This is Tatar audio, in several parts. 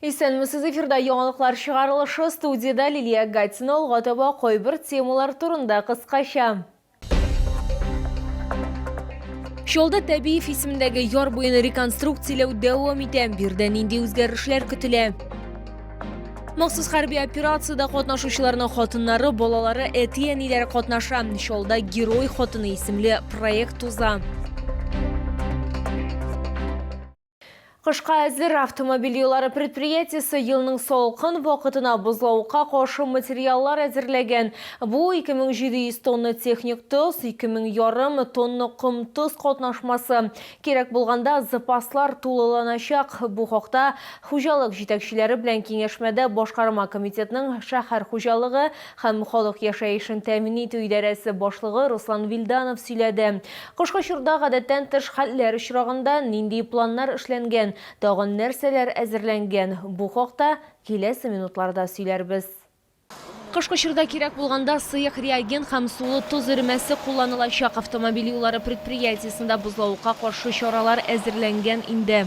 Исәнмесез эфирда яңалыклар чыгарылышы, студиядә Лилия Гатина алга таба кайбер темалар турында кыскача. Чалда Тәбиев исемендәге яр буены реконструкцияләү дәвам итә. Бирдә нинди үзгәрешләр көтелә? Махсус хәрби операциядә катнашучыларның хатыннары, балалары, әти-әниләре катнаша. Чалда Герой хатыны исемле проект уза. Кышка әзер автомобиль юллары предприятиесе елның салкын вакытына бозлавыкка каршы материаллар әзерләгән. Бу 2700 тонна техник тоз, 2000 ярым тонна ком-тоз катнашмасы. Кирәк булганда запаслар тулыланачак. Бу хакта хуҗалык җитәкчеләре белән киңәшмәдә башкарма комитетның шәһәр хуҗалыгы, һәм халык яшәешен тәэмин итү идарәсе башлыгы Руслан Вильданов сөйләде. Кышкы чорда гадәттән тыш хәлләр очрагында нинди планнар эшләнгән, тагын нәрсәләр әзерләнгән, бу хакта киләсе минутларда сөйләрбез. Кышкы чорда кирәк булганда сыек реагент һәм сулы тоз эремәсе кулланылачак. Автомобиль юллары предприятиесендә бозлавыкка каршы чаралар әзерләнгән инде.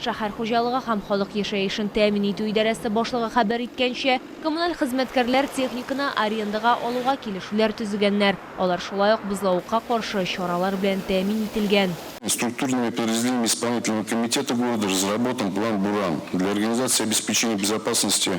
Шәһәр хуҗалыгы һәм халык яшәешен тәэмин итү идарәсе башлыгы хәбәр иткәнчә, коммуналь хезмәткәрләр техниканы арендага алуга килешүләр төзегәннәр, алар шулай ук бозлавыкка каршы чаралар белән тәэмин ителгән. Структурными подразделениями Исполнительного комитета города разработан план БУРАН для организации обеспечения безопасности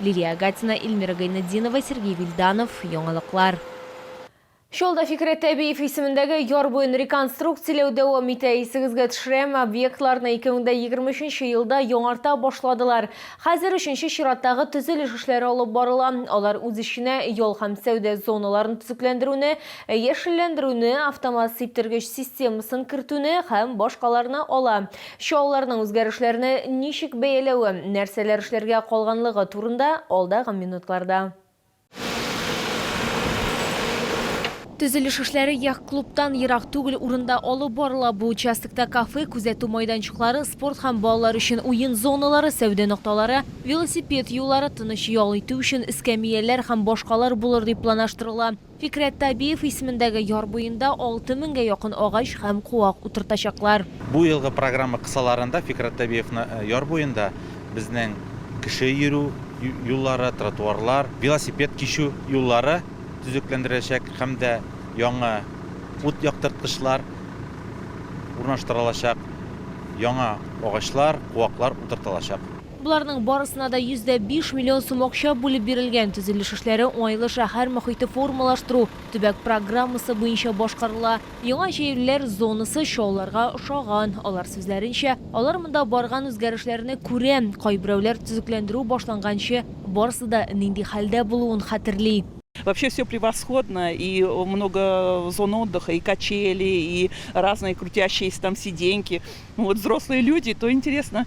Лилия Агатина, Ильмира Гайнетдинова, Сергей Вильданов, Яңалыклар. Чаллыда Фикърәт Әбиев исемендәге яр буен реконструкцияләү дәвам итә. Исегезгә төшерәм, объектларны 2023 елда яңарта башладылар. Хәзер өченче чираттагы төзелеш эшләре алып барыла. Алар үз эченә ял һәм сәүдә зоналарын төзекләндерүне, яшелләндерүне, автомат сиптергеч системасын кертүне һәм башкаларны ала. Чалларның үзгәрешләрне ничек бәяләве, нәрсәләр эшләргә калганлыгы турында, алдагы минутларда. Төзелеш эшләре яхт-клубтан ерак түгел урында алып барыла. Бу участокта кафе, күзәтү майданчыклары, спорт һәм балалар өчен уен зоналары, сәүдә нокталары, велосипед юллары, тыныч ял итү өчен эскәмияләр һәм башкалар булыр дип планаштырыла. Фикърәт Табиев исемендәге яр буенда 6 меңгә якын агач һәм куак утыртачаклар. Бу елгы программа кысаларында Фикърәт Табиевны яр буенда безнең кеше йөрү юллары, тротуарлар, велосипед кичү юллары төзекләндереләчәк һәм дә яңа ут яктырткычлар урнаштырылачак, яңа агачлар, куаклар утыртылачак. Боларның барысына да йөз дә биш миллион сум акча бүлеп бирелгән. Төзелеш эшләре уңайлы шәһәр мохите формалаштыру, төбәк программасы буенча башкарыла. Яңа җәелүләр зонасы чаллыларга ошаган. Алар сүзләренчә, алар монда барган үзгәрешләрне күрә, кайберәүләр төзекләндерү башланганчы барысы да нинди хәлдә булуын хәтерли. Вообще все превосходно и много зон отдыха и качели и разные крутящиеся там сиденьки ну вот взрослые люди то интересно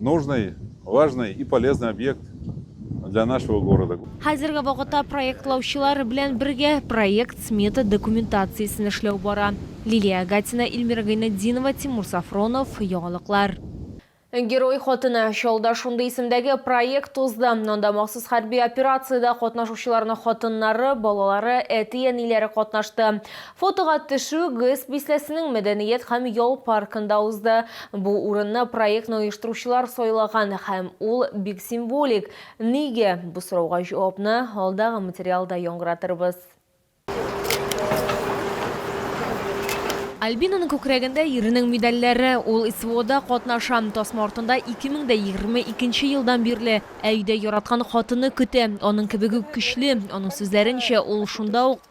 Нужный, важный и полезный объект для нашего города. Хәзерге вакытта проектлаучылар белән бергә проект-смета документациясен эшләү бара. Лилия Агатина, Ильмира Гайнетдинова, Тимур Сафронов, Яңалыклар. Герой хатыны, Чаллыда шундый исемдәге проект узды. Анда махсус хәрби операциядә катнашучыларның хатыннары, балалары, әти-әниләре катнашты. Фотога төшү ГЭС бистәсенең мәдәният һәм ял паркында узды. Бу урынны проектны оештыручылар сайлаган һәм ул бик символик. Нигә? Бу сорауга җавапны алдагы материалда яңгыратырбыз. Альбинаның күкрәгендә иренең медальләре. Ул СВОда катнаша, тасма артында 2022 елдан бирле, ә өйдә яраткан хатыны көтә. Аның кебек үк көчле. Аның сүзләренчә, ул шунда ук.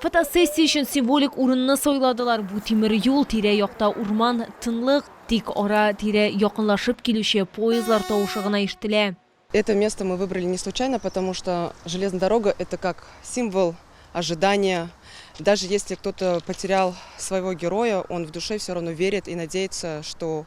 Фотосессия өчен символик урынны сайладылар, бу тимер юл, тирә-якта урман, тынлык, тик ара-тирә якынлашып килүче поездлар тавышы гына ишетелә. Это место мы выбрали не случайно, потому что железная дорога это как символ ожидания, даже если кто-то потерял своего героя, он в душе всё равно верит и надеется, что.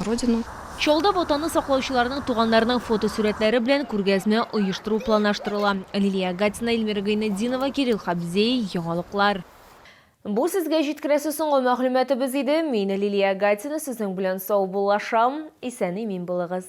родину. Чаллыда Ватанны саклаучыларның туганнарының фотосурәтләре белән күргәзмә оештыру планлаштырыла. Лилия Агатина, Эльмира Гыйнетдинова, Кирилл Хабзей, Яңалыклар. Бу сезгә җиткерәсе соңгы мәгълүматыбыз иде. Мин, Лилия Агатина, сезнең белән саубуллашам. Исән-имин булыгыз.